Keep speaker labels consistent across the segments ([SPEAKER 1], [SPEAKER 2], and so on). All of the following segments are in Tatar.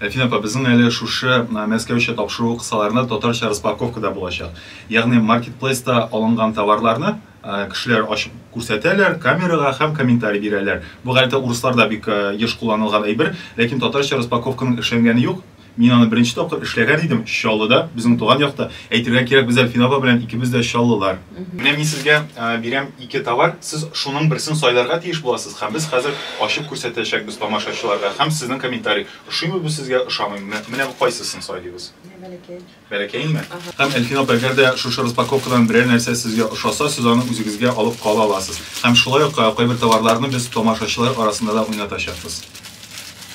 [SPEAKER 1] Әлфинә апа, безнең әле шушы Мәскәүчә тапшыру кысаларында татарча распаковка да булачак. Ягъни маркетплейста алынган товарларны кешеләр ачып күрсәтәләр камерага һәм комментарий бирәләр. Бу гадәттә урысларда бик еш кулланылган әйбер, ләкин татарча распаковканың эшләнгәне юк. Мин аны беренче тапкыр эшләгән идем, Чаллыда, безнең туган якта. Әйтергә кирәк, без Әлфинә апа белән икебез дә чаллылар. Менә мин сезгә бирәм ике товар, сез шуның берсен сайларга тиеш буласыз һәм без хәзер ачып күрсәтәчәкбез тамашачыларга һәм сезнең комментарий, ошыймы бу сезгә, ошамыймы, менә кайсысын сайлыйбыз?
[SPEAKER 2] Бәләкәй. Бәләкәйенме?
[SPEAKER 1] Һәм, Әлфин апа, әгәр дә шушы распаковкадан берәр нәрсә сезгә ошаса, сез аны үзегезгә алып кала аласыз. Һәм шулай ук кайбер товарларны без тамашачылар арасында да уйнатачакбыз.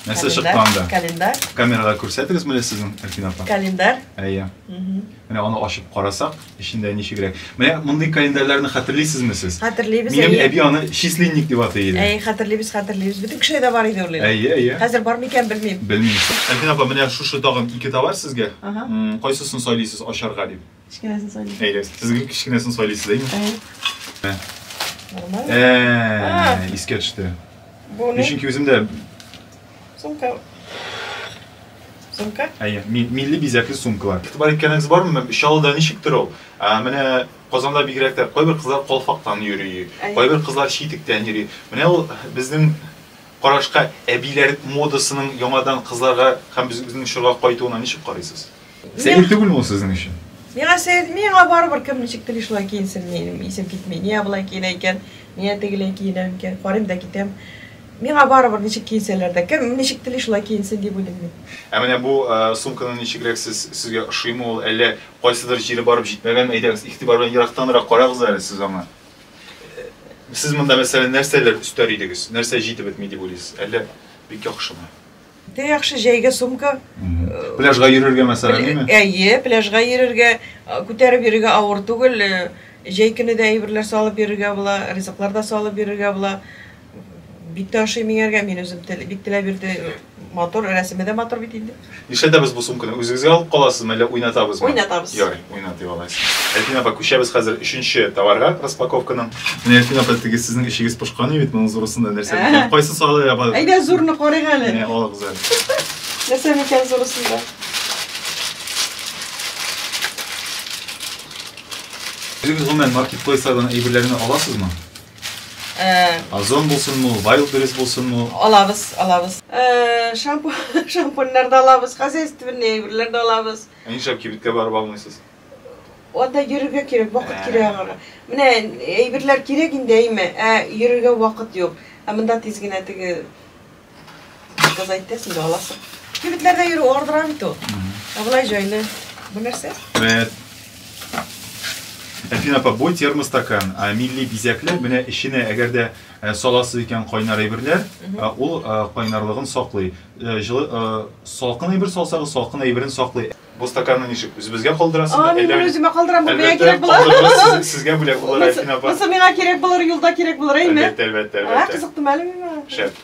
[SPEAKER 1] Нәрсә чыкты анда? Календарь. Камерага
[SPEAKER 2] күрсәтегез
[SPEAKER 1] менә сезнең, Әлфин апа. Календарь. Әйе. Менә аны ачып карасак. Эчендә ничегрәк. Менә мондый календарьларны хәтерлисезме сез? Хәтерлибез. Минем әби
[SPEAKER 2] аны
[SPEAKER 1] числинник дип атый иде. Әй, хәтерлибез, хәтерлибез.
[SPEAKER 2] Бөтен кешедә дә бар иде ул. Әйе, әйе. Хәзер бар
[SPEAKER 1] микән белмим.
[SPEAKER 2] Белмим. Әлфин апа,
[SPEAKER 1] менә шушы тагын ике товар сезгә. Ага. Кайсысын сайлыйсыз ачарга дип? Кечкенәсен сайлыйм.
[SPEAKER 2] Әйе, сезгә кечкенәсен
[SPEAKER 1] сайлыйсыз, әйеме? Әйе.
[SPEAKER 2] Нормаль. Ә, искә төште.
[SPEAKER 1] Бу ни? Чөнки
[SPEAKER 2] үземдә
[SPEAKER 1] сумка Сумка? Әйе, милли бизәкле сумкалар. Игътибар иткәнегез бармы? Чаллыда ничектер ул. Менә Казанда бигрәк тә кайбер кызлар калфактан йөри, кайбер кызлар читектән йөри. Менә ул безнең карашка әбиләр модасының яңадан кызларга һәм безнең чорга кайтуына ничек карыйсыз? Сәер түгелме ул сезнең өчен? Миңа сәер, миңа
[SPEAKER 2] барыбер кем ничек тели шулай киенсен, минем исем китми. Нигә болай киенә икән, нигә тегеләй киенә икән, карыйм да китәм. Миңа барыбер, ничек киенсәләр дә. Кем ничек тели, шулай киенсен, дип уйлыйм мин. Ә менә бу
[SPEAKER 1] сумканы ничегрәк сез, сезгә ошыймы ул, әллә кайсыдыр җире барып җитмәгәнме? Әйдәгез, игътибар белән ерактанрак карагыз әле сез аңа. Сез монда, мәсәлән, нәрсәләр өстәр идегез? Нәрсә җитеп бетми дип уйлыйсыз? Әллә бик яхшымы? Дә яхшы
[SPEAKER 2] җәйгә сумка. Пляжга
[SPEAKER 1] йөрергә мәсәлән, әйеме? Әйе, пляжга
[SPEAKER 2] йөрергә, күтәреп йөрергә авыр түгел. Җәй көне дә әйберләр салып йөрергә була, ризыклар да салып йөрергә була. Бик тә ошый миңәргә, мин үзем бик теләп бирде. Матур, рәсеме дә матур бит инде. Нишләтәбез бу сумканы?
[SPEAKER 1] Үзегезгә алып каласызмы, әллә уйнатабызмы? Уйнатабыз. Ярый. уйнатый аласыз. Әлфин апа, күчәбез хәзер өченче товарга, распаковканың. Менә Әлфин апа, теге сезнең эчегез пошкан иде бит, моның зурысында нәрсә микән? Кайсын салыйк апа? Әйдә, зурны карыйк
[SPEAKER 2] әле. Менә алыгыз
[SPEAKER 1] әле. Нәрсә микән
[SPEAKER 2] зурысында?
[SPEAKER 1] Үзегез гомумән маркетплейслардан әйберләрне аласызмы? Озон булсынмы, Wildberries булсынмы? Алабыз, алабыз.
[SPEAKER 2] Шампуньнар да алабыз, хозяйственный әйберләр дә алабыз. Ә нишләп кибеткә барып
[SPEAKER 1] алмыйсыз? Анда
[SPEAKER 2] йөрергә кирәк, вакыт кирәк аңарга. Менә әйберләр кирәк инде, әйме, ә йөрергә вакыт юк. Ә монда тиз генә теге заказать итәсең дә аласың. Кибетләрдә йөрү ардыра бит ул. Ә болай җайлы. Бу нәрсә? Бәт.
[SPEAKER 1] Әфин апа, бу термостакан, а, милли бизәкләр, менә эченә әгәр дә саласыз икән кайнар әйберләр, ул кайнарлыгын саклый. Э, җылы э, салкын әйбер салсагыз салкын әйберен саклый бу стаканны ничек үзебезгә калдырасыз а мин үземә калдырам бу
[SPEAKER 2] миңа кирәк була сезгә бүләк
[SPEAKER 1] булыр әлфин апа
[SPEAKER 2] монысы миңа
[SPEAKER 1] кирәк
[SPEAKER 2] булыр юлда кирәк
[SPEAKER 1] булыр әйме әлбәттә
[SPEAKER 2] әлбәттә әлбәттә кызыктымы әле миңа шәп